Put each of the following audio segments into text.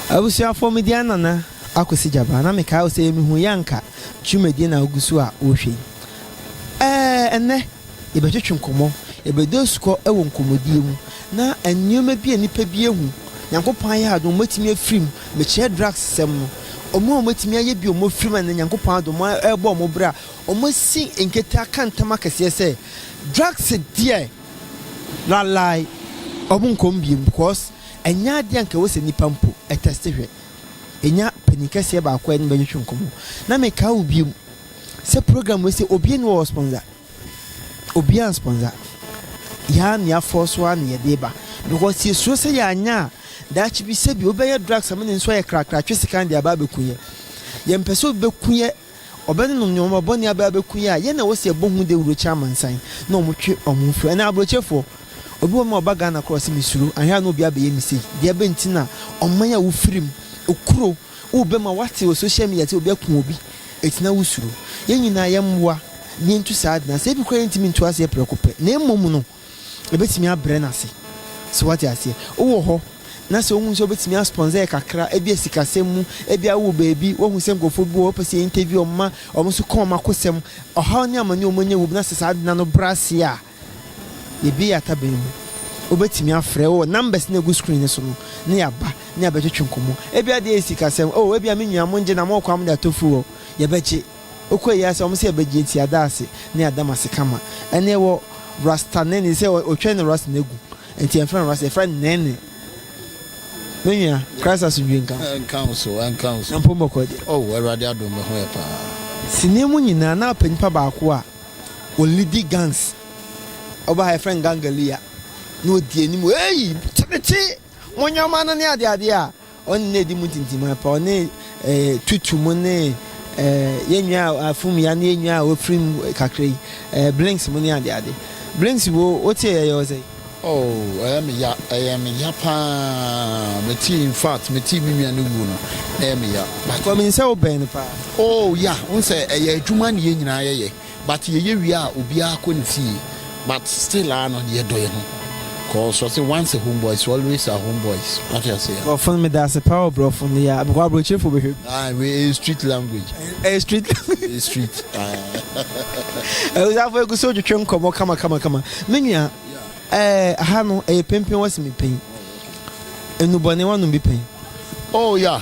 Abusuafoɔ me din Nana Akwasi Gyabaa na mekae wo sɛ yɛ mehu yɛ anka twumadie na wogu so a wohwɛ yi. Ɛɛ ɛnɛ yɛbɛtwetwe nkɔmmɔ, yɛbɛdu asukɔ wɔ nkɔmmɔdie mu na nneɛma bi a nnipa bi ahu Nyankopɔn ayɛ adom wɔatumi afiri mu, mekyerɛ drugs sɛm no, wɔn a wɔatumi ayɛ bi wɔn afiri mu a ɛnɛ Nyankopɔn adom wɔrebɔ wɔn bra, Wɔasi nketewa ka ntam akɛseɛ sɛ drugs deɛ lalai wɔn nkɔm bio because ɛnyɛ adeɛ a nka ɛwɔ sɛ nipa mpo ɛtɛste hwɛ. Yɛnya panin kɛseɛ baako a yɛne no bɛtwetwe nkɔmmɔ na mekae wo bio sɛ program wei sɛ obia nni hɔ a ɔspɔnsa, obia anspɔnsa, yɛa ne yɛafɔɔ so ara na yɛde reba because yɛsuro sɛ yɛanyɛ a daakye bi sɛbi obi bɛyɛ drugs ama ne nso ayɛ krakra atwe sika no de aba abɛku yɛ. Yɛmpɛ sɛ obi bɛku yɛ. Ɔbɛne nom nea ɔma bɔne aba abɛku yɛn a, yɛn na wɔse yɛbɔ ho dawuro kyerɛ amansan na wɔtwe wɔn ho firi. Anaa aburokyefoɔ? Obi wɔ hɔ a ɔba Ghana koraa ɔse mesuro, anhwɛ a na obi abɛyɛ me sei. Deɛ bɛn nti na ɔman a wofiri mu, okuro, wobɛma woate wɔ social media sɛ obi aku obi eti na wosuro? Yɛn nyinaa yɛmmoa na yɛntu saa ade no ase. Ebi koraa yɛntumi ntu ase prɛko pɛ na mmom no, Obetumi abrɛ no ase. So wate aseɛ? Wowɔ hɔ, na sɛ wohu sɛ wobetumi asponsor yɛ kakra, ebia sikasɛm mu, ebia wowɔ baabi, woahu sɛ nkurɔfoɔ bi wɔ hɔ a wopɛ sɛ yɛ interview wɔn ma wɔn nso ka wɔn akosɛm, ɔhaw ne amane a wɔanya wom, na sɛ saa ade no ano brɛ ase a, yɛabue yɛn ataban mu. Wobetumi afrɛ, wɔ numbers no a egu screen no so no, na yɛaba, na yɛabɛtwetwe nkɔmmɔ. Ebia deɛ ɛyɛ sikasɛm, Oh, ebia me nua, mongye na mowɔ kwan a mode atɔ furu hɔ, yɛbɛgye. Ɔkɔ ayi ara sɛ wɔn sɛ bɛgye atia Daase ne Adamase kama. Ɛnna ɛwɔ Rasta Nene sɛ ɔtwɛn no Rasta no agu. Nti yɛmfrɛ no Rasta, yɛfrɛ no Nene. Me nua, Christ asomdwoe nka wo so. Ɛnka wo so, ɛnka wo so. Na mpo mmɔkɔɔ deɛ. Oh, Awurade adom me ho yɛ paa. Sini mu nyinaa na ɔpɛ nipa baako a ɔlidi gangs. Ɔba ha yɛfrɛ no Gangalia. Na ɔdi anim, Eii! Tete! Mo nneɛma no ne adeadeɛ a. Wɔn nna adi mu ntintim ara paa. Wɔne eh, tutu mu ne eh, yɛn nnwa a afum ya ne yɛn nnwa a wɔafiri mu kakra yi, eh, blinks mu ne adeade. Blinks wo, wote ɛyɛ yɛ wo sɛn? Oh, ɛyɛ me ya, ɛyɛ me ya paa. Metee, in fact, metee me nua no wuo no, na ɛyɛ me ya. But. Because menim sɛ wobɛn no paa. Oh, ya, wohu sɛ ɛyɛ adwuma ne yɛn nyinaa yɛyɛ. But yɛyɛ wie a obiara kɔ ne fie but still ara no yɛdɔ yɛn ho cause wɔse once a home boys always a home boys wate aseɛ. Brɔfo no meda ase paa o brɔfo no yɛ a because abrɔkyirefo bɛhwɛ bi. Ae wei ɛyɛ street language. Ɛyɛ street language. Ɛyɛ street ae. Abusuafo ɛgu so retwetwe nkɔmɔ kama kama kama me nua ɛɛ aha no ɛyɛ penpen wɔ se me pɛn nnubɔne wanom bi pɛn. Oh yeah.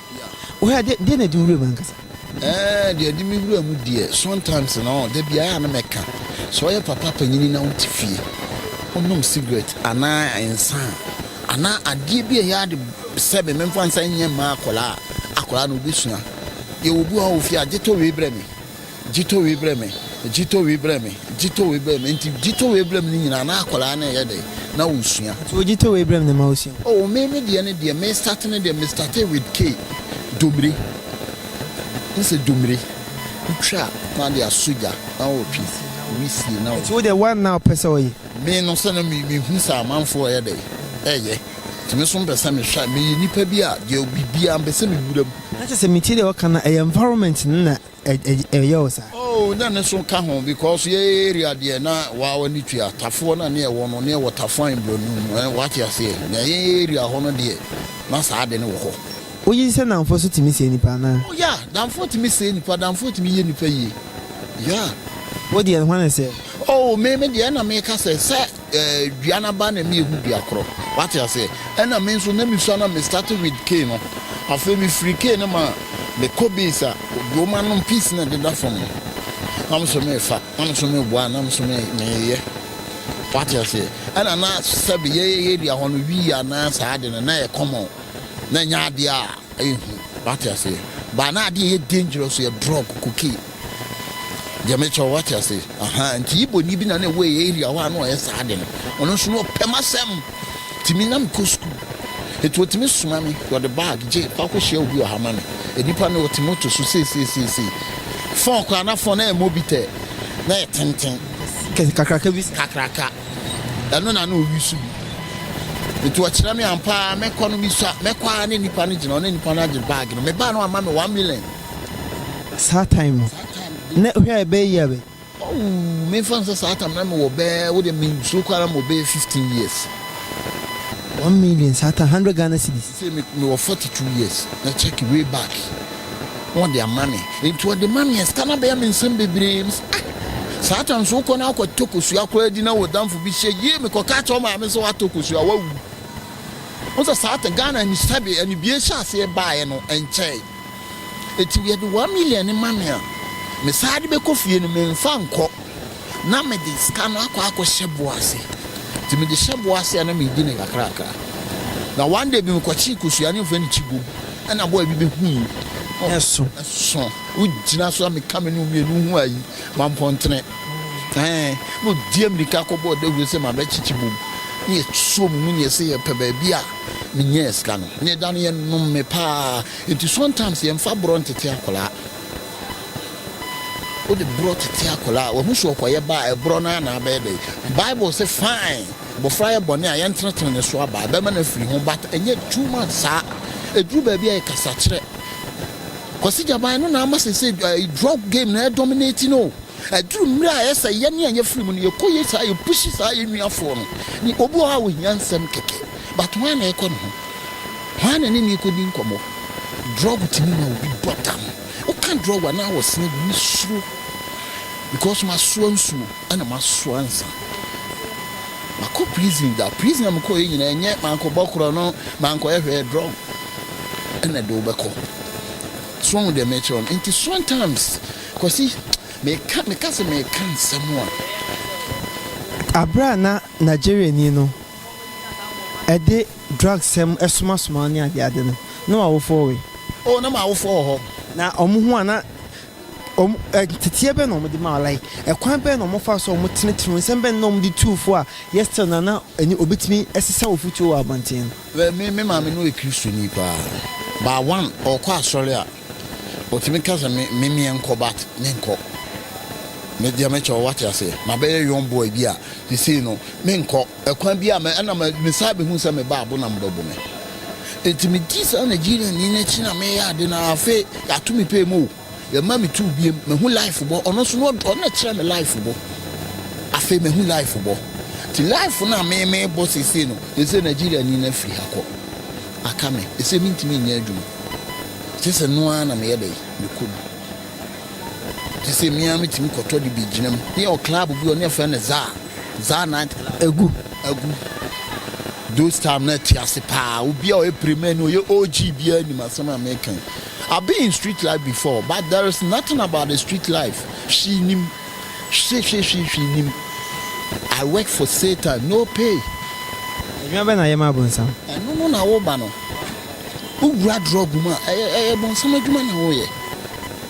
Wɔ ha deɛ na ɛde wo wuram ankasa? Ɛɛ, deɛ ɛde me wuram deɛ, sometimes no, da biara a na mɛka sɛ woyɛ papa panin na wote fie, wonom sigaret anaa nsa a, anaa adeɛ bi a ɛyɛ ade sɛ me memfa nsa nyɛ mma akwadaa a, akwadaa no, ɔbɛsua. Yɛwɔ bi wɔ ha wɔ fie a, gye tɔ wei brɛ me. Gye tɔ wei brɛ me, gye tɔ wei brɛ me, gye tɔ wei brɛ me. Nti gye tɔ wei brɛ me no nyinaa na akwadaa no reyɛ dɛn? Na ɔresua. Nti wo gye tɔ wei brɛ me no ma ɔsua. Oh me me deɛ ne deɛ me start no deɛ me startee with K, Domire. Wohu sɛ Domire, wotwa a na wode asɔ gya na wotwe si, wisie na. Nti wo deɛ one na wopɛ sɛ ɔyɛ? Me no sɛ na me me hu sɛ amanfoɔ reyɛ dɛn? Reyɛ. Nti me nso mpɛ sɛ me hwɛ a, meyɛ nipa bi a deɛ biribiara mpɛ sɛ me wura mu. Na kyerɛ sɛ metie deɛ ɔka no a ɛyɛ environment no na Ɛyɛ wo saa? Oh na ne so ka ho because yɛ area deɛ na waa w'ani tua tafoɔ na ne ɛwɔ no ne ɛwɔ tafoa and broni mu eh wate aseɛ na yɛn area hɔ no deɛ na saa ade no wɔ hɔ. Wogye di sɛ nnamfoɔ nso tumi sɛe nnipa anaa? Oh yeah nnamfoɔ tumi sɛe nnipa nnamfoɔ tumi yɛ nnipa yie yeah. Wo deɛ hwan na ɛsɛɛ? Oh me me deɛ ɛna meka sɛ sɛ. dua no aba na meehu dua korɔ wate aseɛ ɛna me nso na mesua na me start with key no afei me firi key no ma me kɔ base a dwoma no piece na ɛdeda fam no na me nso me fa na me nso me boa na me nso me me yɛ wate aseɛ ɛna na sɛbi yɛ yɛ area hɔ no wii anaa saa de no na yɛ common na nyɛ adeɛ a ɛyɛ hu wate aseɛ ba na adeɛ yɛ dangerous yɛ drug cocaine Deɛ me kyɛw wate ase ahaa nti Igbo ni bi na na ɛwɔ yɛ area hɔ a na ɔyɛ saa ade no ɔno nso na ɔpɛ m'asɛm nti me na me kɔ school nti ɔtumi soma me ɔde bag gye kɔ akɔ hyia obi ɔha ma me nipa no ɔte moto so seeseeseesei fɔn kora na fɔn na yɛ mobitɛ na yɛ tenten kakraka bi kakraka ɛno na na ɔyi so bi nti ɔkyerɛ me ampaa mɛkɔ no mekɔ a na nipa no gyina ɔne nipa no agye bag no me baa no ama me one million Saa time no Saa time no na hwɛ a ɛbɛyɛ year bɛn? Ɔww memfa no sɛ saa time no na mewɔ bɛɛ wode mensuro koraa na mewɔ bɛyɛ 15 years. One million saa time hundred Ghana cedis. Sesei me mewɔ forty two years na check way back na wɔde ama me nti wɔde ma me a sika no abɛyɛ me nsam bebree me sɛ ah saa time so wokɔ na akɔ tɔ kosua koraa di na wo damfo bi hyɛ yie me kɔ ka kyerɛ wo maame sɛ watɔ kosua wawu. Wohu sɛ saa time Ghana ani sɛbe anibue hyɛ aseɛ baeɛ no ɛnkyɛe. Enti yɛde one million no ma me a, me san de bɛkɔ fie no, memfa nkɔ, na mede sika no akɔ akɔhyɛ bo ase. Enti mede hyɛ bo ase a, na meredi no kakrakra. Na one day bi mekɔkyee kosua ne wɔfrɛ no kyibom, ɛna boy bi bɛhui, na ɛso, ɛso, wogyina so a meka me ne wo mmienu ho ayi, mampɔntene, ɛɛn, na ɔdi amirika kɔbɔɔ dawuro sɛ mabɛkye kyibom, na yɛsuo mu mu na yɛse yɛpɛ baabi a menyɛɛ sika no, na yɛda no yɛnom me paa. Nti sometimes yɛnfa borɔ ntete akwadaa. Wode borɔ tete akwadaa a, wahu sɛ ɔkɔyɛ ba a, ɛborɔ no ara na abɛyɛ dɛn? Bible se fine, abɔfra yɛ bɔne a, yɛntenetene ne so aba a, ɛbɛma no afiri ho but ɛnyɛ two months saa. Ɛduru baabi a ɛyɛ kasakyerɛ. Kwasi Gyaban, ɛno na ama seesei drug game no ɛdominate no o. Ɛduru mmerɛ a ɛyɛ sɛ yɛne a yɛafiri mu no, yɛkɔ yɛ saa, yɛpushi saa yɛn nuafoɔ no. Obi wɔ hɔ a, ɔhia nsɛm kɛkɛ. But hwan na ɛkɔ ne ho? Hwan na ɛne no ɛkɔdi nkɔmmɔ? Drug tumi ma obi bɔ dam. Woka drug a, na wɔ sene bi. Me suro because masoa nsuo ɛna masoa nsa. Makɔ prison da. Prison a mekɔeɛ nyinaa ɛnyɛ mankɔbɔ korɔ no, mankɔyɛ hwɛɛ drug ɛna ɛde wo bɛkɔ. So woahu deɛ merekyerɛ wo no? Nti sometimes Kwasi meka meka sɛ meka nsɛm a. Aberɛ a na Nigeriani no Ɛde drug sɛm somasoma ne ade ade no na w'awofoɔ we? Oh na m'awofoɔ wɔ hɔ. Na wɔn ho a na wɔn nteteɛ bɛn na wɔn de ma wo like ɛkwan bɛn na wɔn fa so a wɔn tenetene nsɛm bɛn na wɔn de tuu fo a yɛ still na na ɛne obi tumi sesa wo futuo wɔ abɔnten no. Well me me maame no yɛ kristoni paa but one ɔkɔ asɔre a. Otumi ka sɛ me me meɛ nkɔ but me nkɔ me deɛ me kyɛw wate aseɛ ma bɛyɛ young boy bi a sisei no me nkɔ ɛkwan bi a me ɛna me me saa bɛ hu sɛ me ba abona mo bɛ bo me nti me di saa Nigerian ni no akyi na me yɛ ade na afei yato me pay mu o yɛ ma me tu biem me hu life bɔ ɔno nso no ɔno na kyerɛ me life bɔ afei me hu life bɔ ti life na me me bɔ sisei no sisei Nigerian ni no afiri ha kɔ. Aka me sɛ mentumi nyɛ adwuma. Ɛkyɛ sɛ ɛno ara na meyɛ dɛn? Mekɔ du. Ɛkyɛ sɛ me ara metumi kɔtɔ de bi gyinam. Ne yɛwɔ club bi hɔ, ne yɛfrɛ no Zaa, Zaa Night Club. Agu. Agu. Those time na ɛte ase paa. Obi a ɔyɛ Premani, ɔyɛ OG biara nim asɛm a mereka yi. I've been in street life before, but there is nothing about the street life she nim. Hwehwehwehwehwee nnim I work for Satan no pay. Adwuma bɛn na yɛma bonsam? Ɛno no na woba no wowura drug mu a ɛyɛ ɛyɛ bonsam adwuma na woyɛ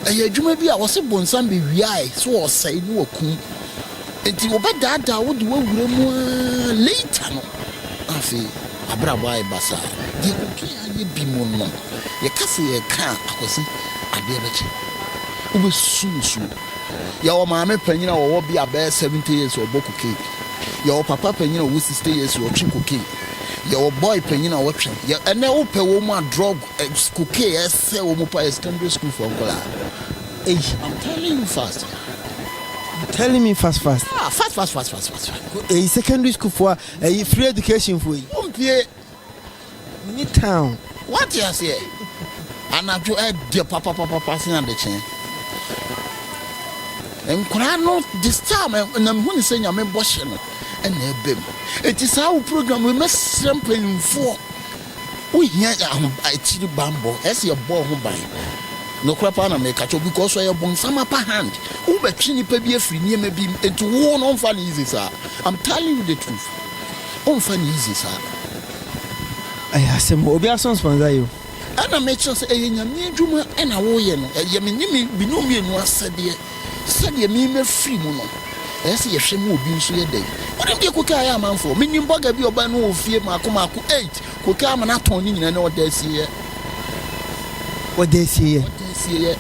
ɛyɛ adwuma bi a wɔse bonsam bewiae so wɔsɛe ne wɔkum nti wɔbɛdaadaa wo de wawura mu aa later no na afei wabrabɔ ayɛ basaa deɛ cocaine ayɛ bi mo no yɛka sɛ yɛka a Akwasi adeɛ bɛkye wobɛsusu nsuo. Yɛwɔ maame panyin a ɔwɔ bia bɛyɛ seventy years a ɔbɔ cocaine. Yɛwɔ papa panyin a ɔwɔ sixty years a ɔtwe cocaine. Yɛwɔ boy panyin a ɔtwe. Yɛ ɛnɛ wo pɛ wɔn mu a drug ɛ cocaine ɛsɛ wɔn mu paa yɛ secondary school foɔ nkɔlaa. Eyi I'm telling you fast. You telling me fast fast. Ah fast fast fast fast fast fast. Eyi secondary school foɔ a ɛyi free education foɔ yi. Wɔn pie Nni town. Wate aseɛ? Anadwo ɛdɛ papapapa sen adekyee. Nkwadaa no de style ma na mehu ne sɛ nyame bɔhyɛ no ɛna ɛba mu. Eti saa wo program wei mɛsrɛ mpanyinfoɔ wohia aho akyiri bammɔ ɛsɛ yɛbɔ ho ban. Nokorɛ paa na meka kyɛw because ɔyɛ bonsam upper hand. Wobɛtwe nipa bi afiri nneɛma bi mu enti wo no mfa no easy saa. I'm telling you the truth. Womfa no easy saa. Ɛyɛ asɛm o, obiara so nsponsor yɛ o. Ɛna mekyerɛ sɛ ɛyɛ Nyame adwuma ɛna woyɛ no, ɛyɛ me ne me binom mmienu asɛdeɛ, sɛdeɛ me mafiri mu no, ɛyɛ sɛ yɛhwɛ ma obi nso yɛ dɛn? Wonim deɛ Koke ayɛ amanfoɔ? Menim bɔga bi a ɔbaa no wɔ fie maako maako eight, Koke ama no atɔn ne nyinaa, na ɔda asieɛ. Ɔda asieɛ? Ɔda asieɛ.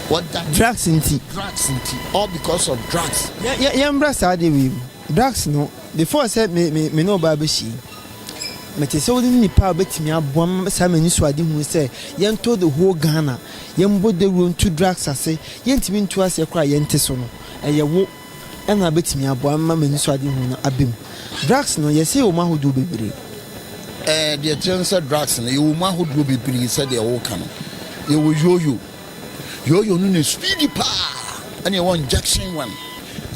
Ɔda. Drugs nti. Drugs nti, all because of drugs. Yɛ, yɛ, yɛmmra saa adeɛ wei mu. Dax no, before sɛ me me me ne wo baa bɛhyia yi, mete sɛ wone nipa a wobɛtumi aboa me ma saa m'anisoadehunu sɛ yɛntɔ the whole Ghana, yɛmbɔ dawuro nto drugs ase, yɛntumi ntu aseɛ koraa a yɛnte so no, ɛyɛ wo na wobɛtumi aboa me ma m'anisoadehunu no aba mu. Drugs no, yɛse yɛwɔ mu ahodoɔ bebree. Ɛɛ, deɛ ɛkyerɛ ne sɛ drugs no, yɛwɔ mu ahodoɔ bebree sɛdeɛ woka no. Yɛwɔ Yo-Yo. Yooyo no na speedy paa ɛne ɛwɔ injection one.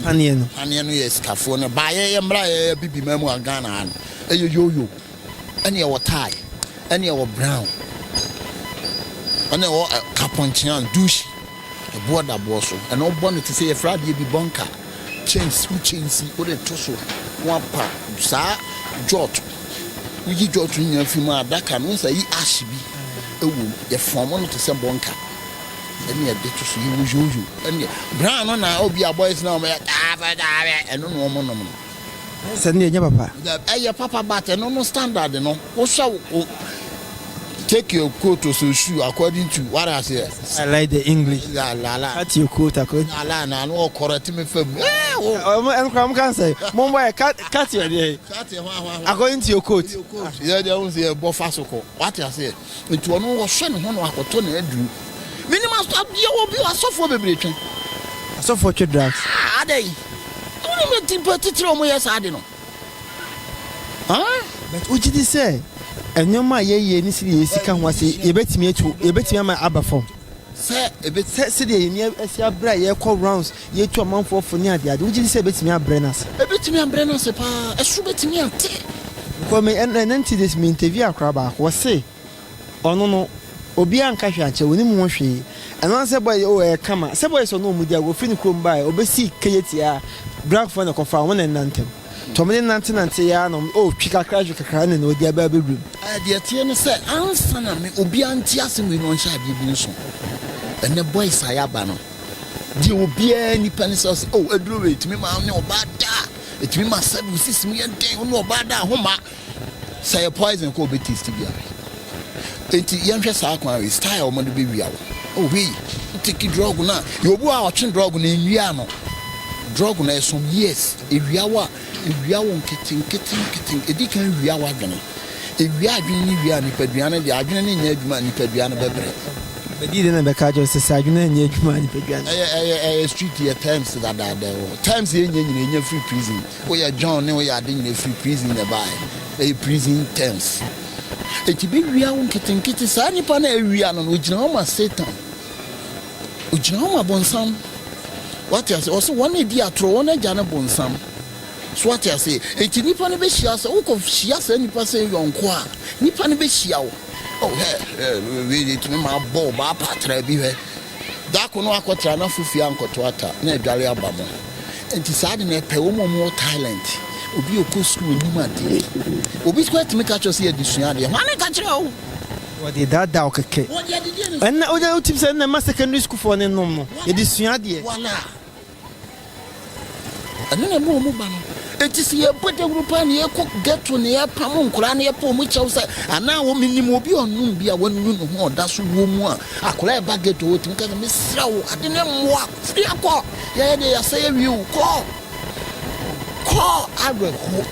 Paneɛ no. Paneɛ no yɛ sikafoɔ no ba yɛ yɛ mmra yɛ yɛ bibi ma mu a Ghana ha no ɛyɛ yooyo ɛne ɛwɔ tie ɛne ɛwɔ brown ɛne ɛwɔ kapɔnkyean dushi ɛboɔ da boɔ so ɛno bɔ no te sɛ yɛfrɛ adeɛ bi bɔnka. Kyɛnse, wo kyɛnse, wode to so na woapa saa jot. Woyi jot no nyinaa fi mu a, adaka no, wohu sɛ ayi ash bi wom. Yɛfɔɔm no te sɛ bɔnka. Ɛnna yɛde to so, yɛwɔ yoyo. Ɛnna brown no na obi a boys no a wɔyɛ taa fɛ taa fɛ, ɛno na wɔnom no. Sɛ no deɛ ɛnyɛ papa. Dabi ɛyɛ papa but ɛno no standard no wo hwɛ wo take your coat or so shoe according to what I say. I like the English. La la la. Cut your coat according. La la na no ɔkɔrɔ ti mi fɛ mu. Ɛɛ wo. Ɔmo ɛno kora ɔmo kan sɛ mo mbɔ yɛ cut cut yɛ deɛ. Cut yɛ hwa hwa hwa. According to your coat. Yɛ deɛ ɔmo sɛ yɛ bɔ fa so kɔ what I say. Enti ɔno ɔhwɛ ne ho na wakɔtɔ n'aduru. Menim adeɛ wɔ bi asɔfoɔ bebree twe. Asɔfoɔ twe drugs. Ah adɛn? Wonim deɛ nti mpo atitire a wɔyɛ saa ade no? Huh? But wogye di sɛ nneɛma a yɛyɛ ne sɛdeɛ yɛn sika ho ase yɛbɛtumi atu yɛbɛtumi ama aba fam? Sɛ ɛbɛtumi. Sɛ sɛdeɛ yɛn ani asi abere a yɛkɔ rounds Yɛatu amanfoɔ fo ne adeade. Wogye di sɛ ɛbɛtumi abrɛ no ase? Ɛbɛtumi abrɛ no ase pa ara. Ɛso bɛtumi ate. Because me, ɛn, ɛnnɛ nti this, me interview akora baako. Ɔse, ɔno no, obiara nka hwee ankyerɛ, ɔnim ho hwee. Ɛno ara sɛ boys, oh, ɛyɛ kama. Sɛ boys a ɔne wɔn di agorɔ firi ne kurom baeɛ, ɔbɛsii KJT a, Granfoɔ na ɛkɔfaa wɔn na ɛnantam. Nti wɔde nantenanteeɛ ara na wɔn, oh, twi kakra, hwe kakra, ɛnna na wɔde aba abɛwuram. Ɛɛ, deɛ ɛteɛ ne sɛ, ansa na me, obiara nte asɛm wei na ɔnhyɛ adeɛ bi nso. Ɛnnɛ boys a yɛaba no. Deɛ obiara nipa ne sɛ ɔsɛ oh aduro wei ɛtumi ma ne ɔbaa da ɛtumi ma sɛbi wo sisi mu yɛ den wo ne ɔbaa da ho ma sɛ yɛ poison kɔ ɔbɛ taste bi awe eti yɛnhwɛ saa kwan wei style wɔn de bɛ wia wo oh wei take drug na yɛ obu a ɔtwe drug na nwia no drug na ɛso years ewia wo a Wia wo nketenketenketen. Di kan wia w'adwene. Wia adwene ne wia nipadua no deɛ. Adwene no nyɛ adwuma a, nipadua no bɛbrɛ. Bedi dɛn na ɛbɛka akyerɛ wo sɛ, sɛ adwene anyɛ adwuma a, nipadua no. Ɛyɛ street yɛ terms dadaada o. Terms yɛ nyɛ nyina ɛnya firi prison. Woyɛ John ne woyɛ ade nyina ɛfiri prison na ɛbaeɛ. Ɛyɛ prison terms. Ɛti bɛwia wo nketenkete. Saa nipa no a awia no no, ɔgyina hɔ ma Satan. Ogyina hɔ ma bonsam. Wate ase? Ɔse wɔn a edi atoro, wɔn agya ne bonsam. So wate ase? Enti nipa no behyia sɛ wokɔ hyia saa nipa sɛ yɔnko a, nipa no behyia wo. Oh, hɛ, hɛ, wei de tumi ma abɔ wo baa pa tra bi hɛ. Da ko no akɔtra na fofie ankɔto ata na adware aba mo. Enti saa de no ɛpɛ wɔn a wɔn wɔ Thailand. Obi a ɔkɔ sukuu nim adeɛ. Obi koraa tumi ka kyerɛ wo sɛ yɛde sua adeɛ. Hwane ka kyerɛɛ wo? Wɔde daadaa wo kɛkɛ. Ɛnna wonya wotim sɛ ɛnna ɛma secondary sukuufoɔ no nom no. Yɛde sua adeɛ. Ɛno na ɛma wɔn ba no. Enti sɛ yɛbɔ dawuro paa na yɛkɔ ghetto na yɛpam nkwadaa na yɛpɛ wɔn kyɛw sɛ anaa wɔn menim obi a ɔnom bi a wanu ne ho a ɔda so wɔ mu a akwadaa ɛba ghetto hɔ tumi ka sɛ mesrɛ wo ade ne mmoa firi akɔ yɛyɛ deɛ yɛasɛ yɛwie o kɔ kɔ awerɛho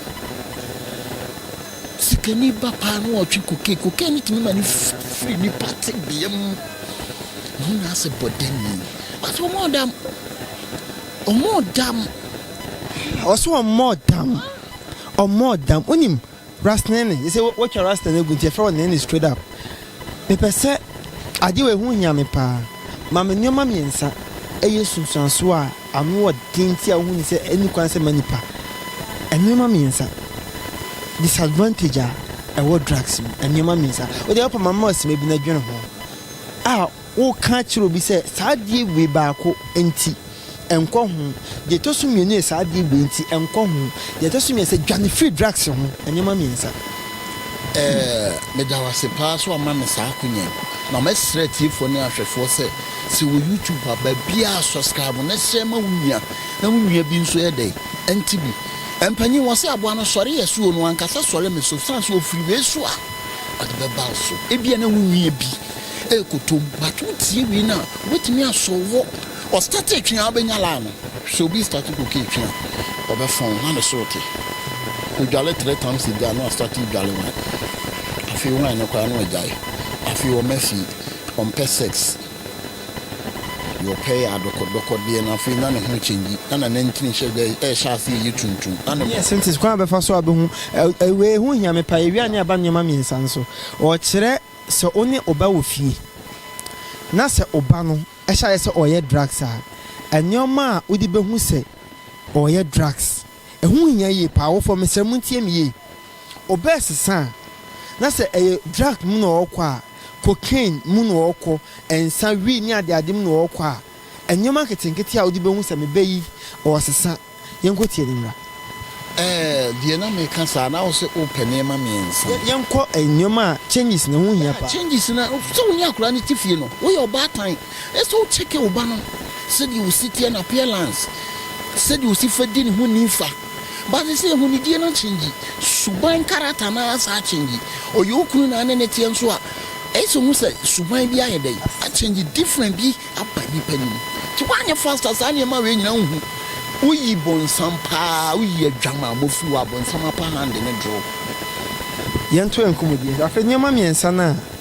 Sikani ba paa na ɔtwe cocaine. Cocaine no tumi ma no firi nipa tebea mu ma wo nyinaa sɛ bɔdani. Ɔse ɔmɔɔ dam. Ɔmɔɔ dam. Ɔse ɔmɔɔ dam. Ɔmɔɔ dam. Wonim Ras Nene? Gye sɛ woatwa Rasta no agu nti yɛfrɛ wo Nene straight up. Mepɛ sɛ, adeɛ wei ho hia me paa. Ma me nnoɔma mmiɛnsa ɛyɛ nsunsuansoɔ a. Anoɔden nti a wohu no sɛ ɛnni kwan sɛ ɛma nnipa nneɛma mmiɛnsa, disadvantage a ɛwɔ drugs mu nneɛma mmiɛnsa. Wode a, wopɛ ma mema wo asima bi na dwene ho a woka akyerɛ obi sɛ saa adeɛ wei baako nti nkɔ ho, deɛ ɛtɔ so mmienu yɛ saa adeɛ wei nti nkɔ ho, deɛ ɛtɔ so mmiɛnsa dwane firi drugs ho nneɛma mmiɛnsa. Eh, meda wo ase paa sɛ woama me saa akonya yi, na mɛsrɛ atiefoɔ ne ahwɛfoɔ sɛ Sɛ wɔ YouTube a baabiaa subscribe na share ma wo nua na wo nua bi nso yɛ dɛn ɛnte bi. Mpanyin wɔse aboa no sɔre yɛ so o no ankasa sɔre me so sane sɛ ɔfiri wei so a ɔde bɛba wo so ebia na wo nua bi ɛrekɔtɔ mu but wo tie wei no a ɔbɛtumi asɔ wo ɔ starte twe a wobɛnya laa no sɛ obi starte cocaine twe a ɔbɛfɔn wo na ne soro te ɔdwale three times ebia na wastarte dwale wine afei wine no koraa na wagyae afei ɔma fie. Ɔmpɛ sex. Deɛ ɔpɛ yɛ adɔkɔdɔkɔdeɛ na afei na ne ho change na na nantini hyɛ da ɛhyɛ ase ɛyɛ tuntum na ne. Nurse nti kwan a ɔbɛfa so abɛhu ɛɛ wei ho hia me paa awia ne aba nneɛma mmiɛnsa nso ɔkyerɛ sɛ wo ne wo ba wɔ fie na sɛ wo ba no hyɛ ayɛ sɛ ɔreyɛ drugs a nneɛma a wode bɛhu sɛ ɔreyɛ drugs. Ɛho hia yie paa. Awofo a, mesrɛ montie me yie. Ɔbɛɛsesa a, na sɛ ɛyɛ drug mu na ɔrekɔ a, cocaine mu na ɔrekɔ, nsa, wii ne adeade mu na ɔrekɔ a, nneɛma nketenkete a wode bɛhu sɛ me ba yi, ɔresesa. Yɛnkɔtie no mmra. Ɛɛ, deɛ na meka saa, na wo se wopɛ nneɛma mmiɛnsa. Yɛ, yɛnkɔ nneɛma a, changes na ɛho hia paa. Changes na, sɛ wo ne akwadaa no te fie no, woyɛ ɔbaatan. Ɛsɛ sɛ wo kyɛke wo ba no sɛdeɛ osi teɛ, no appearance, sɛdeɛ osi fa di ne ho nimfa. But sesei ahunidie no akyɛngyi, suban character no ara saa akyɛngyi. Ɔyɛ wo kunu na ane ne teɛ nso a, ɛyɛ sɛ ohu sɛ suban bi ayɛ dɛn? Akyɛngyi, different bi aba nipa no mu. Nti woanyɛ fast a saa nneɛma wei nyinaa wonhu. Woyi bonsam paa, woyi adwamammɔ firi hɔ a, bonsam apa hand ne draw. Yɛnto yɛn nkɔmmɔdie nso. Afei nneɛma mmiɛnsa no a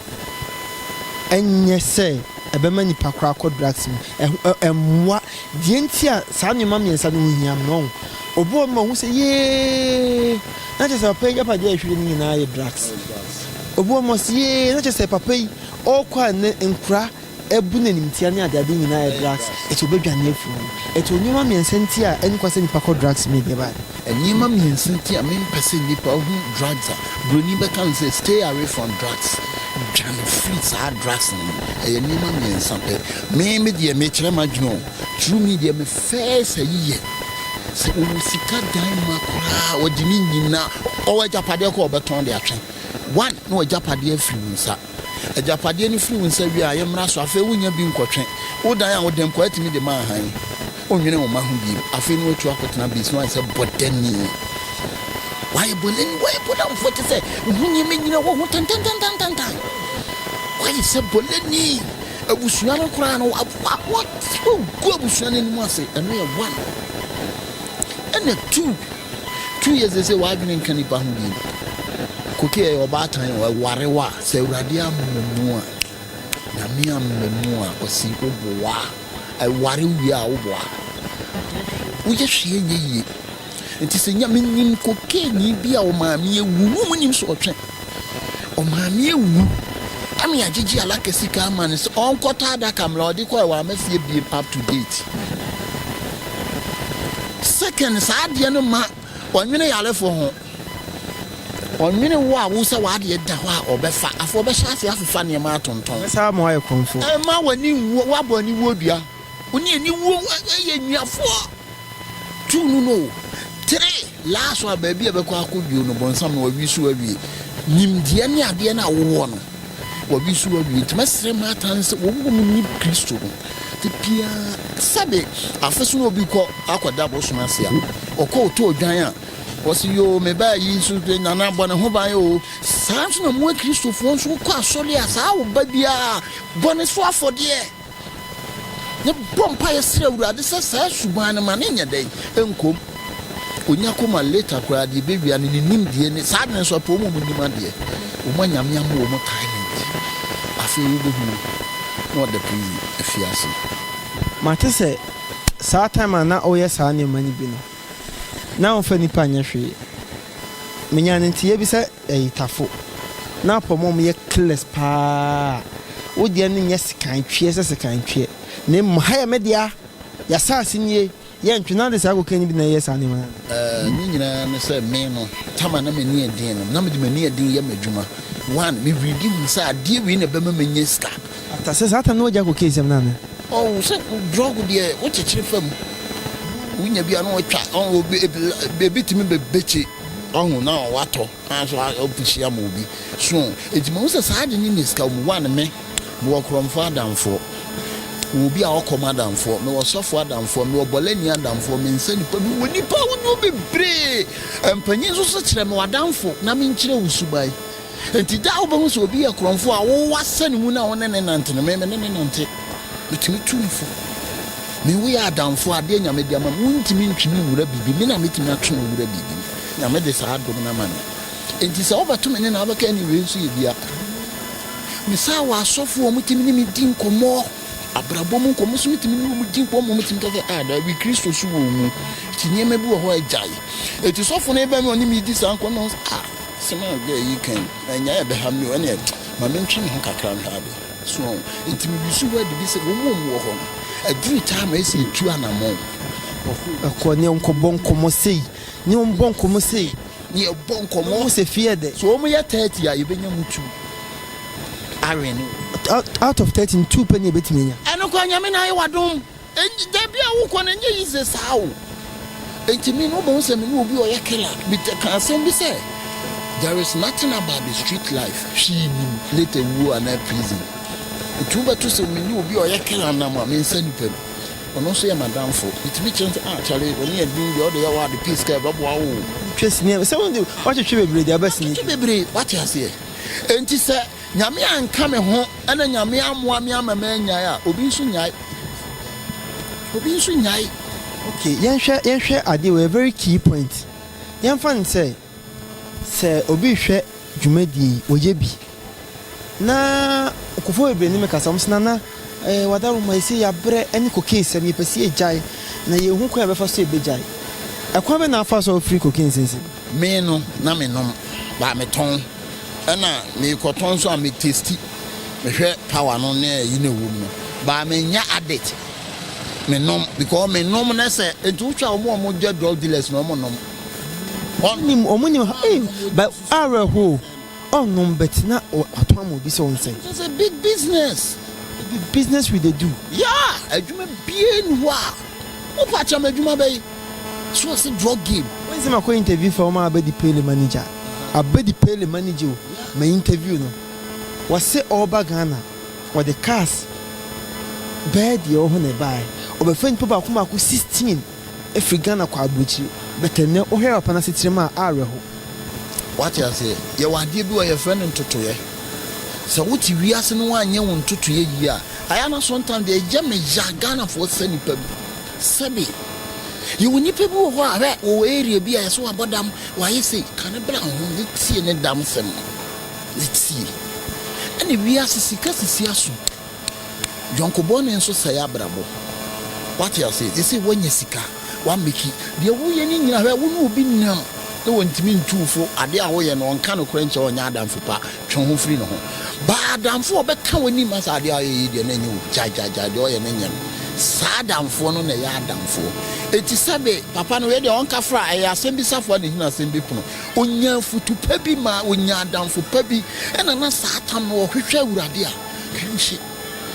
Ɛnyɛ sɛ ɛbɛma nnipa kɔ akɔ drugs mu. Ɛho ɛ, ɛmmoa. Deɛ nti a saa nneɛma mmiɛnsa no ho hia no no, ɔho, ɔboa ma ɔhu sɛ, Yee! Na kyerɛ sɛ papa yi agyapadeɛ a ɛhwere no nyinaa yɛ drugs. Ɔboa ma ɔse, Yee! Na kyerɛ sɛ papa yi, ɔɔkɔ a nnɛ nkora Ɛbu n'animtia ne adeade nyinaa yɛ drugs, enti obedwane afi ho. Ɛto nneɛma mmiɛnsa nti a ɛnni kwa sɛ nnipa kɔ drugs mu nnɛbae. Nneɛma mmiɛnsa nti a mempɛ sɛ nnipa hu drugs a buroni bɛka no sɛ stay away from drugs, dwane firi saa drugs no ho, ɛyɛ nneɛma mmiɛnsa pɛ. Me me deɛ, mekyerɛ m'adwene o, through me deɛ, me first ayi yɛ sɛ ɔwɔ sika dan ma koraa, ɔde ne nyinaa, ɔwɔ agyapadeɛ koraa a ɔbɛtɔn de atwe, one, na w'agyapadeɛ afiri wo nsa. Agyapadeɛ no firi wo nsa wie a, yemmra so. Afei wonnya bi nkɔtwe. Wo dan a wode nkɔ atumi de ma ahan. Wonnwene wo mma ho bio. Afei na watu akɔtena base no ayɛ sɛ bɔdani. Woayɛ bɔdani, woayɛ bɔdamfoɔ te sɛ wo ho nyɛ manyina wɔ ho tantantantantantan. Woayɛ sɛ bɔdani. Abusua no koraa no, woagu abusua no anim ase. Ɛno yɛ one. Ɛna two. Tu yɛ sese w'adwene nka nipa ho bio Koki ɛyɛ ɔbaatan o ɛware wo a sɛ awurade amma mu a Nyame amma mu a Kwasi wo boa ɛware wo wie a wo boa woyɛ hwee nyɛ yie nti sɛ Nyame nim kokeeni bi a ɔmaame awu wo nnim sɛ ɔtwe Ɔmaame ewu ma yɛagyegye alaka sika ama no sɛ ɔnkɔtɔ adaka mbrɛ ɔdze kɔe ɔamma fie biom up to date. Second saa adeɛ no ma ɔnwene yarefo ho. Ɔnwene wo a wo sɛ w'adeɛ da hɔ a ɔbɛfa. Afei ɔbɛhyɛ ase afefa nneɛma atontɔn. Ɔbɛsan ama woayɛ krɔmfoɔ. Mma w'ani nnwu, woabɔ aniwuo dua. Wo ne aniwuo yɛ anuafoɔ. Two no no o. Three, last one baabi a ɛbɛkɔ akɔ wio no bɔnsam no wawi so awie. Nimdeɛ ne adeɛ no a wowɔ no wawi so awie. Nti mɛsrɛ mo atan sɛ wɔn a wɔnim Kristo no da biara sɛbe afe so na obi kɔ akɔda bosom ase a ɔkɔ ɔtɔ odwan a ɔse yoo mebaa yi nso nana bɔ ne ho ban o. Saa nso na mo akristofoɔ nso wokɔ asɔre a saa wo ba biara bɔ ne so afɔdeɛ. Yɛbɔ mpaeɛ srɛ Awurade sɛ saa suban no ma no nyɛ dɛn? Nkom. Onya koma later koraa deɛ ɛbɛwia no ne nimdeɛ ne saa adwene so apɔ wɔn a wɔn nim adeɛ wɔn a Nyame ama wɔn talent afei wobɛhu no na ɔda pii afi ase. Mate sɛ saa time a na woyɛ saa nneɛma no bi no na womfa nnipa nyɛ hwee. Menyaa no nteeɛ bi sɛ Ɛyɛ tafo na apɔmɔ ɔmo yɛ careless paa wo deɛ no nyɛ sekan tweɛ sɛ sekan tweɛ na mmom ha yɛ me dea y'asaase nie yɛ ntwe na ade saa kokaini bi na ɛyɛ saa nneɛma no. Ɛɛ ne nyinaa ne sɛ me no Tama na m'ani yɛ den no na mede m'ani yɛ den yɛ m'adwuma one me really hu sɛ adeɛ wei na ɛbɛma manya sika. After sɛ saa time no wagya cocaine sɛm no anaa? Oh sɛ drug deɛ wo kyekyere fam wonya bi a na watwa ɔn obi ebi la ebi tumi bɛ bɛkye. Wahu na watɔ kwan so afihyia ma obi so. Enti mahu sɛ saa ade no nni sika wom. One, me, mewɔ korɔmfoɔ adamfoɔ, mewɔ obi a ɔkɔm adamfoɔ, mewɔ ɔsɔfoɔ adamfoɔ, mewɔ bɔlɛni adamfoɔ, mensa nnipa, mewɔ nnipa ahodoɔ bebree. Mpanyin nso so kyerɛ me w'adamfo na menkyerɛ wo suban. Enti daa wobɛhu sɛ obi yɛ korɔmfoɔ a wowɔ asɛne mu na wo ne no nante no, me me ne no nante. Metumi tu no fo. Me wo yɛ adamfo, adeɛ Nyame de ama me, wontumi ntwe me nwura biribi, me na mɛtumi atwe wo awura biribi mu. Nyame de saa dom no ama me. Enti sɛ wobɛto me ne no a, wobɛka ɛne wei nso yɛ bia. Mesan wɔ asɔfoɔ a wɔtumi ne me di nkɔmmɔ, abrabɔ mu nkɔmmɔ so metumi ne wɔn di nkɔmmɔ, wɔtumi ka sɛ ah daabi Kristo so wɔ wo mu, nti nneɛma bi wɔ hɔ a gyae. Enti sɔfo no bɛn me a ɔne me redi saa nkɔmmɔ no, ah. Asɛm a ɔkae yi kan na nyaa ɛbɛha me o, ɛneɛ ma me ntwe me ho kakra nhwɛ ade so ɔho. Nti me wusu hɔ adi bi sɛ wɔn a wɔn wɔ hɔ no aduru time a ɛsɛ yɛ tu anamɔn wɔ ho no. Ɛkɔ neɛ nkɔ bɔ nkɔmɔ sei, neɛ ɔmo bɔ nkɔmɔ sei, neɛ bɔ nkɔmɔ. Na ɔmo sɛ fie yɛ dɛ. So ɔmo yɛ thirty a yɛbɛnya mu tu awɛne wɔ mu. Out of thirty no two pɛ ne yɛbɛtumi anya. Ɛno koraa Nyame na ayɛ w'adom. Enti baabi a wokɔ no nyɛ yize saa o. Enti me no wobɛhu sɛ me ne obi a ɔyɛ killer bi tɛ ka asɛm bi sɛ there is nothing about the street life hwee nim later wuo anaa prison. Ɛtumi bɛto sɛ me ne obi a ɔyɛ killer nam a mensa nipa bi. Ɔno nso yɛ m'adamfo. Metumi kyerɛ no sɛ ah Charlie w'ani adum deɛ wode yɛ wɔ ade peace kaa ɛbɛboa wo o. Twa sini a sɛ woatwetwe bebree deɛ wobɛsini pii. Wotwetwe bebree wate aseɛ. Enti sɛ Nyame anka me ho na Nyame amoa me ama mannyae a, obi nso nyae. Obi nso nyae. Ok, yɛnhwɛ, yɛnhwɛ adeɛ wei, a very key point. Yɛmfa no sɛ, sɛ obi rehwɛ dwumadie yi, ɔyɛ bi, na nkurɔfoɔ bebree ne me kasa, wɔse, Nana, eh, Wadaroma, yɛse yɛabrɛ ne cocaine sɛm, yɛpɛ sɛ yɛgyae, na yɛnhu kwan a yɛbɛfa so yɛbɛgyae. Ɛkwan bɛn na afa so a wofiri cocaine seesei? Me no, na menom, but metɔn. Ɛna mekɔtɔ nso a me testi mehwɛ power no ne ɛyi na ɛwɔ mu no but me nyɛ addict me nom because me nom ne sɛ nti wohwɛ a wɔn wɔn gya drug dealers na wɔn nom. Wɔn nim wɔn nim ha ee but awurɛ ho wɔn nom but na watɔn ama obi sɛ wɔn sɛ. It's a big business. It be business we dey do. Yeah, adwuma bie ni hɔ a. Wo pa kyɛ me adwuma bɛyi so ɔse drug game. Wonsi makɔ interview fa wɔn a abedi pele manager abedi pele manager o ma interview no wɔse ɔreba Ghana ɔde cars bɛɛ deɛ ɛwɔ hɔ na ɛbaɛ ɔbɛfa nipa baako baako sixteen afiri Ghana kɔ abrokyire but ɛnɛ wohwɛ papa no asetram a awerɛho. Wate aseɛ yɛwɔ adeɛ bi wɔ yɛfrɛ no ntotoeɛ sɛ wote wiase no woanyɛ wo ntotoeɛ yie a Aya na sontan deɛ ɛyɛ me ya Ghanafoɔ sɛ nipa bi sɛbi yɛwɔ nipa bi wɔ hɔ a hwɛ wɔ area bi a yɛsɛ wabɔ dam wayɛ sei ka ne bra ho ne tie ne dam sɛm no ne tie ɛne wiase sika sisi aso yɔnkobɔne nso sɛe abrabɔ wate aseɛ sisi wanya sika One Mickey, deɛ woyɛ no nyina hwɛ wo ne obi nnam ne wɔntumi ntu wo fo adeɛ a woyɛ no ɔnka nokorɛ nkyɛ ɔnyɛ adamfo pa twe wo ho firi ne ho baa adamfo a ɔbɛka w'anim asa adeɛ a woyɛ yi deɛ na ɛnyɛ obi gyae gyae gyae deɛ ɔyɛ no nyɛ no saa adamfoɔ no na ɛyɛ adamfoɔ eti sɛbe papa no wei deɛ ɔnka fra ɛyɛ asɛm bi safoa na ɛhina asɛm bi pono ɔnya afutu pa bi ma ɔnya adamfo pa bi ɛna na saa tam no ɔhwehwɛ awurade a ɛnhye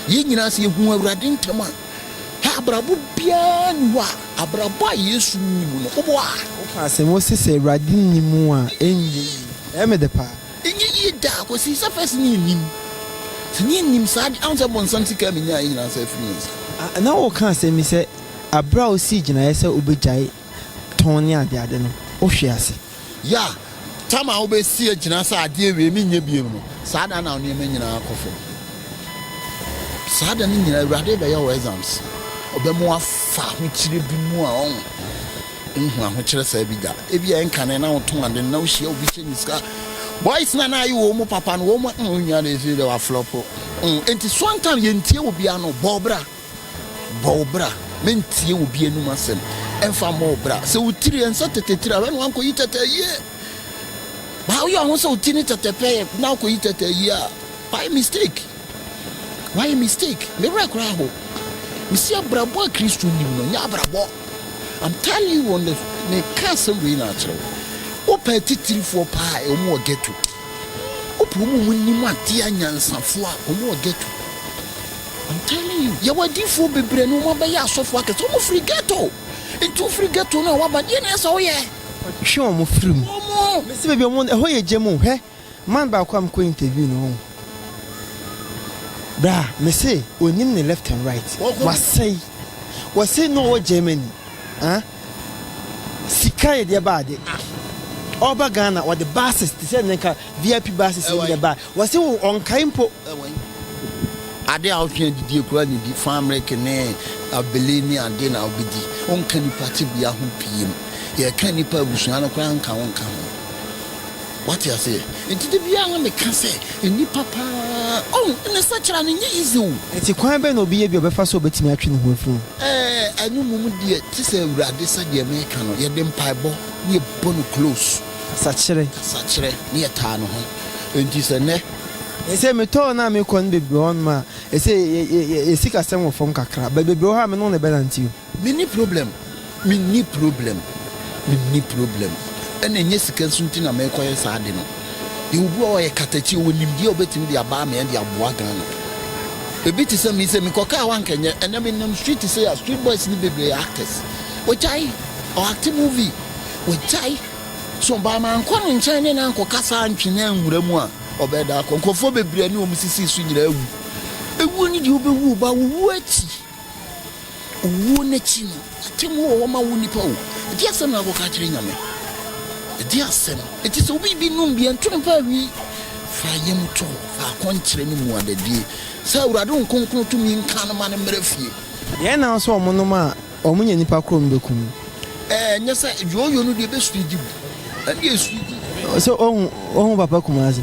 yɛn nyinaa sɛ yɛhu awurade ntɛm a Hɛ abrabɔ biara nni hɔ a abrabɔ a Yesu nni mu no, wowɔ a. Woka asɛm wɔ se sɛ Awurade nni mu a, ɛnyɛ yie. Ɛyɛ me dɛ paa. Ɛnyɛ yie da, kɔsi sɛ first ne yɛnim. Sɛ ne yɛnim saa deɛ, ahu sɛ bɔnsam sika a menyaeɛ nyinaa nsa afiri me nsa. Na woka asɛm yi sɛ aberɛ a wosii gyinaeɛ sɛ wobɛgyae. tɔn ne adeade no, ohwe ase. Ya, tam a wobesi agyina sɛ ade awiei me nyɛ bio no, saa da no na wo nneɛma nyinaa kɔ fam. Saa da no nyinaa, Awurade rebɛyɛ wo exams. Ɔbɛma woafa ahokyere bi mu a wonhu ahokyere saa bi da. Ebia ɛnkane na wotɔn ade no, na wohyia obi hyɛ ne sika. Boys no a na ayɛ wɔn mu papa no, wɔn mu, mm, onua de, ɛsɛ dɛ waflɔpo. Mm, enti Suantan, yɛntie obiara no, bɔ bra. Bɔ wo bra na ntie obi anom asɛm, ɛmfa mmɔ wo bra sɛ wo tiri ɛnsɛ tɛtɛ tiri a, hwɛ na woankɔyi tɛtɛ ayie. Baa woyɛ wo ho sɛ wo ti ne tɛtɛ pɛyɛ na wokɔyi tɛtɛ ayie a, woayɛ mistake. Woayɛ mistake. Me werɛ koraa ho. Mesi abrabɔ a Kristo nim no nyɛ abrabɔ. I'm telling you on the meka asɛm wei na akyerɛ wo. Wopɛ atitirifoɔ paa a, wɔn wɔ ghetto. Wopɛ wɔn a wɔnim adeɛ anyansafoɔ a, wɔn wɔ ghetto. I'm telling you yɛwɔ adiifoɔ bebree no wɔn abɛyɛ asɔfoɔ akɛseɛ wɔn firi ghetto nti wo firi ghetto no a waba deɛ na ɛsɛ woyɛ. Kɔtwe wɔn firi mu. Wɔn. Mesi baabi a wɔn ɛhɔ yɛ gya mu hwɛ man baako a mekɔ interview no wɔn bra mese onim ne left and right wasɛe wɔse na ɔwɔ Germany ah. Sika yɛ deɛ ba ade ah. Ɔba Ghana ɔde buses te sɛ nnɛ nka VIP buses no bi na ɛbae. Wɔse wo ɔnkae mpo. Ade a wotwe adidie koraa na edi. Famereke ne abele ne ade na wobedi. Wonka nnipa tebea ho pii. Yɛka nnipa abusua no koraa nka wonka ho. Wate aseɛ? Enti da biara na meka sɛ, nnipa paa, oh, ne sakyera no nyɛ easy o. Enti kwan bɛn na obi yɛ bi a ɔbɛfa so a obetumi atwe ne ho afiri ho? Ɛɛ, ɛno mmom deɛ, te sɛ Awurade sɛdeɛ meka no, yɛde mpaebɔ na yɛbɔ no close. Kasakyerɛ. Kasakyerɛ, na yɛtaa ne ho. Enti sɛ nnɛ. Ɛsɛ metɔɔ no a mekɔ no bebree wɔ hɔnom a, ɛsɛ yɛ, yɛ, yɛ, yɛ sikasɛm wɔ fam kakra, but bebree wɔ hɔ a me ne wo na ɛbɛnante o. Menni problem, menni problem, menni problem, ɛna ɛnyɛ sika nso nti na merekɔyɛ saa ade no. Yɛwɔ obi wɔ hɔ a ɔyɛ katakyi, ɔwɔ nimdeɛ a ɔbɛtumi de aba amea de aboa Ghana. Ebi te sɛ me yi sɛ mekɔ kaa hɔ anka ɛnyɛ, ɛnɛ menam street sei a street boys no bebree yɛ actors. Wagyae, ɔ acte movie, wagyae. So ba mankɔ ne nkyɛn ne no ankɔkasa antwe no anwura mu a, ɔbɛda akɔ. Nkurɔfoɔ bebree a ne wɔn sisii so nyinaa awu. Ewuo ne deɛ wobɛwu wo ba, wo wuo akyi. Owuo no akyi no, atemmuo wɔ hɔ ma wo nipa o. Ɛdeɛ asɛm na akɔka akyerɛ Nyame? Ɛdeɛ asɛm? Enti sɛ obi bi nom bia nto no paa wi. Fa yam to hɔ, fa akɔnkyerɛ ne mmuadadie sɛ Awurade wo nkronkron tumi nka no ma no mmra fie. Deɛ ɛnna wo sɛ wɔn nom a wɔn nya nipa koro no bɛku no. Ɛɛ ɛnyɛ sɛ yooyo no deɛ ɛbɛsua di gu. Ɛndeɛ ɛsua di gu. Sɛ ohu papa Kumasi.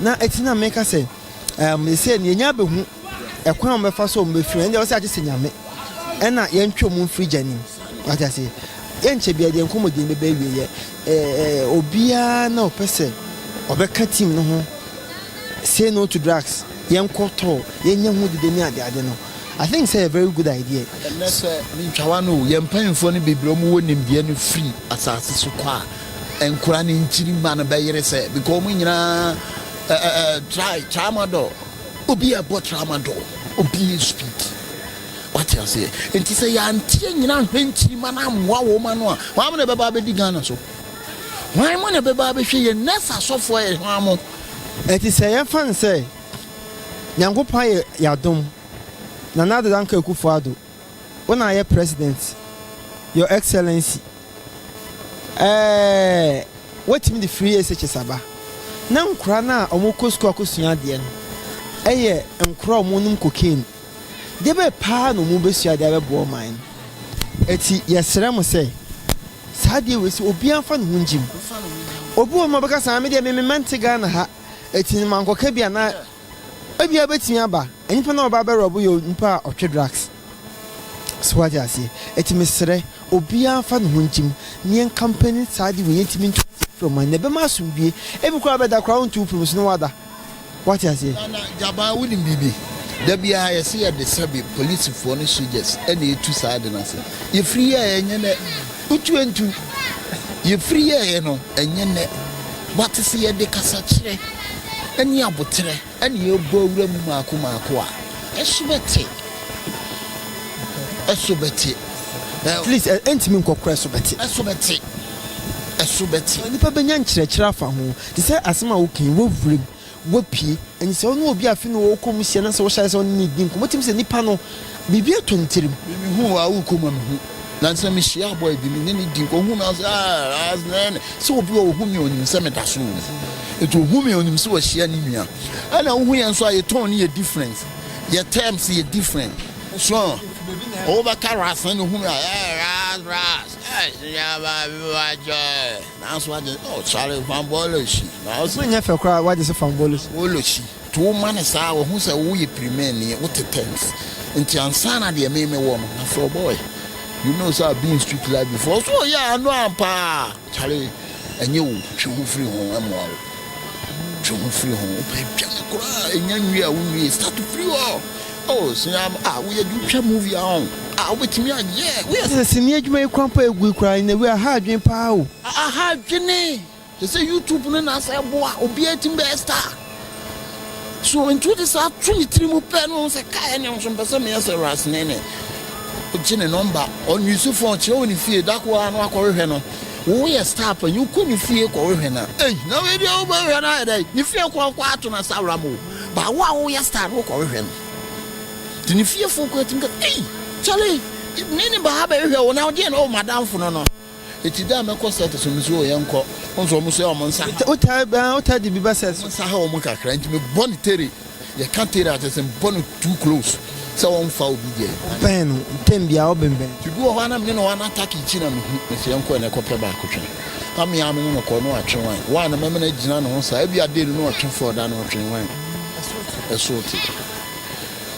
Na eti na meka sɛ, Ɛɛm, seesei no yɛanya abehu ɛkwan a wɔbɛfa so a wɔbefiri mu, ɛnde ɛwɔ sɛ agye sɛ Nyame na yɛntwe wɔn mfiri gya no mu. Wate ase? Yɛnkyɛ biara deɛ nkɔmmɔdi no bɛba awieɛ. Ɛɛ, obiara na ɔpɛ sɛ ɔbɛka team no ho Say No To Drugs, yɛnkɔ tour, yɛnyɛ ho dede ne ade ade no, I think sɛ ɛyɛ very good idea. Ɛnnɛ sɛ mentwa w'ano o, yɛn mpanyimfoɔ no bebree a wɔwɔ nimdeɛ no firi asase so kɔ a, Nkora ne nkyirimma no bɛyere sɛ because wɔn nyinaa eh, eh, try tramadol. Obi a ɛbɔ tramadol, obi yɛ speed. Wate aseɛ? Nti sɛ yɛanteɛ nyina ahwɛ nkyirimma no ammoa wɔn ano a, wɔn amena ɛbɛba abɛdi Ghana so. Wɔn mo na ɛbɛba abɛhwɛ yɛn nurse asɔfoɔ yɛ hwan mo. Ɛti sɛ yɛmfa no sɛ Nyankopɔn ayɛ yɛadom, Nana Addo Dankwa Akufo-Addo. Wo na yɛ president your excellency Ɛɛɛɛɛ Watumi de free SHS aba Na nkora no a ɔmo kɔ sukuu akɔ sua adeɛ no Ɛyɛ nkora a ɔmo nom cocaine Deɛ bɛɛ paa na ɔmo bɛsua de abɛboa ɔman no Ɛti yɛsrɛ mo sɛ saa adeɛ wei sɛ obiara nfa ne ho ngye mu Obi wɔ hɔ nom a ɔbɛka saa me deɛ me me mma nte Ghana ha Ɛti no mankɔka bi a na Ebia ebetumi aba, nyimpa no a ɔba abɛwerɛw bo yɛ nyimpa a ɔtwe drugs. So wɔatse aseɛ? Ntsi meserɛ, obiara mfa noho ngye mu, na yɛnka mpanyin saa ade wei yentumi nto nsa mfrɛ wɔn mma no, na ɛbɛma asomdwoe. Ebi koraa bɛda koraa wonto wo pon mu so na wɔada. Wɔatse aseɛ? Na, na, Gyabaa, wonim biribi? Da biara yɛse yɛde sɛbe, polisifoɔ ne sogyas, na etu saa ade no ase. Yefiri yɛɛɛ, ɛnyɛ nnɛ. Utu ntu. Yɛfiri yɛeɛ no, ɛnyɛ nnɛ. But sɛ yɛde kasakyerɛ ne aboterɛ na yɛbɔ awura mu maako mmaako a, ɛso bɛte. Ɛso bɛte. Ɛ. At least, ɛntumi nkɔ koro ɛso bɛte. Ɛso bɛte. Ɛso bɛte. Nipa bɛnya nkyerɛkyerɛ afa ho, te sɛ asɛm a woka yi, wɔ wuram. Wapue. Ɛne sɛ wo ne obi a afei na ɔwɔ kɔm hyia na sɛ wohyɛɛ sɛ wo ne no redi nkɔmmɔ, wotumi sɛ nipa no, biribi atɔ ne tirim. Me me hu wo a, worekɔ mu a me hu. Nanso na me hyia boy bi, me ne no di nkɔmmɔ, ohu me a ɔse aah aah nɛɛn. Sɛ obi wɔ ohu me a onim sɛ meda so wɔ mu. Nti ohu me a onim sɛ wahyia ne nua. Ɛna wohu yɛn nso a yɛ tone yɛ different, yɛ terms yɛ different. So wobɛka ras na ohu me a ɛɛh ras ras ɛɛh sɛ yɛn aba bi wɔ akyɛ. Naaso wɔagye oh Charlie Famboloshi naaso. Ɔso nnyɛ fɛ koraa wɔagye so Famboloshi. Famboloshi to wo ma no saa wohu sɛ wo yɛ pirimɛnii wo te tɛnt nti ansaana deɛ me me wɔ no na frɛ ɔbɔɔy you know sɛ I've been in street life before ɔso ɔyɛ ano ampaa Charlie ɛnyɛ o twe ho firi ho ɛmoa wo. Twe ho firi ho. Wopɛ atwa no koraa a, ɛnya nwie a wonwie. Start firi hɔ. Oh, sini a ah, woyɛ adwuma, wotwa movie a ɔn. Ah, wobɛtumi a, yeah, woyɛ. Sɛ sini adwuma yi kwan pa ɛgu yi koraa, in a way, aha adwene paa o. Aha adwene. Te sɛ YouTube no na sɛ ɛboa, obiara tumi bɛyɛ star. So, nti wode saa to ne tiri mu pɛ no, wohu sɛ kae ɛne nso mpɛ sɛ meyɛ sɛ Ras Nene. Wogye ne nɔmba, ɔn use phone, kyerɛ wɔ ne fie, da koro ara na wakɔhwehwɛ no. Wo yɛ star panyin wo kɔ ne fie kɔ hwɛ no a ei na wei deɛ wo bɛ hwɛ no ayɛ dɛn ne fie kɔ kɔ ato no asawura mu o but wo a wo yɛ star no wo kɔ hwɛ no te ne fie fo kɔ atim ka ei kyale me ne ba ha bɛ hwɛ wo na deɛ na o madam fo no no eti dɛ mɛ kɔ set so nso o yɛn kɔ nso wɔn so yɛ wɔn nsa ha wɔn nsa ha wɔn kakra nti mɛ bɔ ne tere. Yɛ ka tee no a kyerɛ sɛ mbɔ no too close sɛ ɔnfa obi deɛ. Wo pɛn no ntɛm biaa wo benbɛn. Ti bi wɔ hɔ a na me ne no ana attack akyi na me hu me sɛ yɛnkɔ ɛnɛ kɔ pɛ baako twe na me aa me ne no kɔ na watwe wan why na mɛma no agyina ne ho saa ebia day no na ɔtwe fɔɔ da no ɔtwe wan ɛsoo te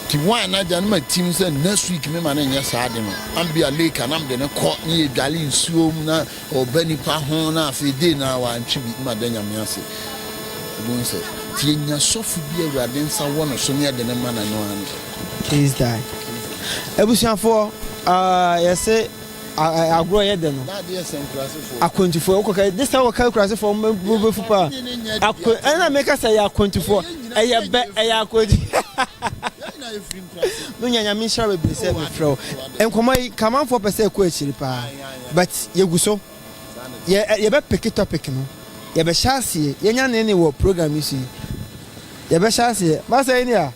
ti wan na agya no ma tim sɛ next week me ma no nyɛ saa ade no ambia lake a na me de no kɔ ne yɛ dwale nsuo mu na Ɔba nipa ho na afei dei na wantwe bi ma da Nyame ase. Wobɛhu sɛ yɛnya sɔfo bi a Awurade nsa wɔ no so ne yɛde no ma no ɛno ara ne. Case die. Abusuafoɔ, ah, yɛse ah, agorɔ yɛ dɛ no. Na adeɛ sɛ nkurasefoɔ. Akwantufoɔ, wokɔka, this time wɔka nkurasefoɔ, mo bɛ- mo bɛfu paa. Yɛn nyinaa yɛ Akwa- nkurasefoɔ. Ɛna meka sɛ ɛyɛ akwantufoɔ, Ɛyɛ nyinaa ɛyɛ yɛ bɛ, yɛ ɛyɛ firi. akwantu. Yɛn nyinaa yɛfiri nkurase. Menya Nyame nhyira bebree sɛ Oh, mefrɛ wo. ade, ade. Nkɔmmɔ yi, Kamanfoɔ pɛ sɛ ɛkɔ akyiri paa. Ae, ae. But yɛgu so. Yɛ yɛbɛ peke topic no. Yɛbɛ hyɛ aseɛ. Yɛnya ne ne wɔ program yi so yi. Yɛbɛ hyɛ aseɛ. Master Enea,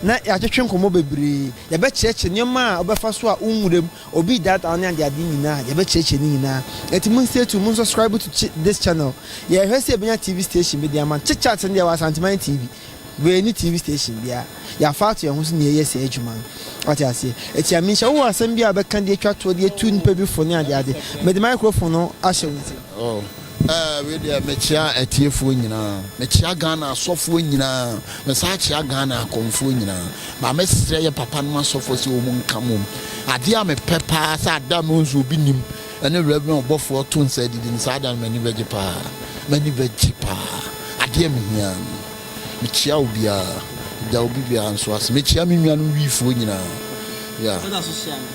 na yɛatwetwe nkɔmmɔ bebree. Yɛbɛ kyerɛkyerɛ nneɛma a wobɛfa so a wo nwura mu, obi data wo ne adeade nyinaa. Yɛbɛ kyerɛkyerɛ ne nyinaa. Nti mo stay tuned, mo subscribe to this channel. Yɛrehwɛ sɛ yɛbɛnya TV station bi de ama no. Chitchat no deɛ wɔ Asanteman TV. Wei ne TV station bia yɛafa ato yɛn ho so na yɛyɛ saa adwuma no. Wate aseɛ? Ɛti a menhyɛ wowɔ asɛm bi a wobɛka de atwa toɔ de atu nnipa bi fo ne adeade. Mede microphone no ahyɛ wo nsam. Oh, eh, wei deɛ mekyea atiefoɔ nyinaa. Mekyea Ghana asɔfoɔ nyinaa. Mesan kyea Ghana akɔmfoɔ nyinaa. But mɛsrɛ yɛ papanom asɔfoɔ sɛ wɔn nka mmom. Adeɛ a mepɛ paa sɛ ada no nso obi nim. Ɛne Rev. Ɔbɔfoɔ a ɔto nsa adidi no, saa da no m'ani bɛgye paa, m'ani bɛgye paa, adeɛ a mehia ara ni. Mekyia obiara, meda obi biara nso ase, mekyia me nuanom Wifoɔ nyinaa, yeah. Woda so hyia no?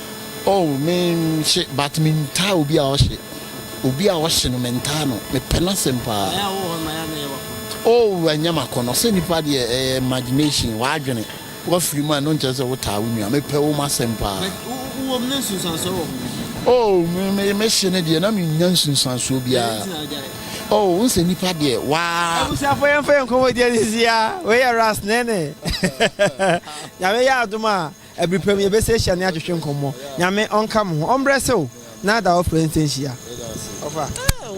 Oh, me nhye, but me ntaa obi a ɔhye, obi a ɔhye no me ntaa no, me pɛ n'asɛm paa. Ɛyɛ a wowɔ hɔ no ma yɛ a na ɛyɛ w'akɔnnɔ? Oh, ɛnyɛ m'akɔnnɔ, sɛ nipa deɛ ɛyɛ imagination, w'adwene, Wafiri mu a, ɛno nkyerɛ sɛ wotaa wo nua. Mepɛ wo m'asɛm paa. But wo wɔ mu na nsunsuansoɔ wɔ ho. Oh, me me me hye no deɛ na me nnya nsunsuansoɔ biara. Dɛn nti na wagyae? Oh, wohu sɛ nnipa deɛ, waa. Abusuafoɔ yɛmfa yɛn nkɔmmɔdie no nsi ha. Wei yɛ Ras Nene. Nyame yɛ adom a, abiri pa mu yɛbɛsi ahyia ne atwetwe nkɔmmɔ. Nyame ɔnka mo ho. Ɔmbrɛ sew na da ɔfrɛ nsenhyia. Ɔfa.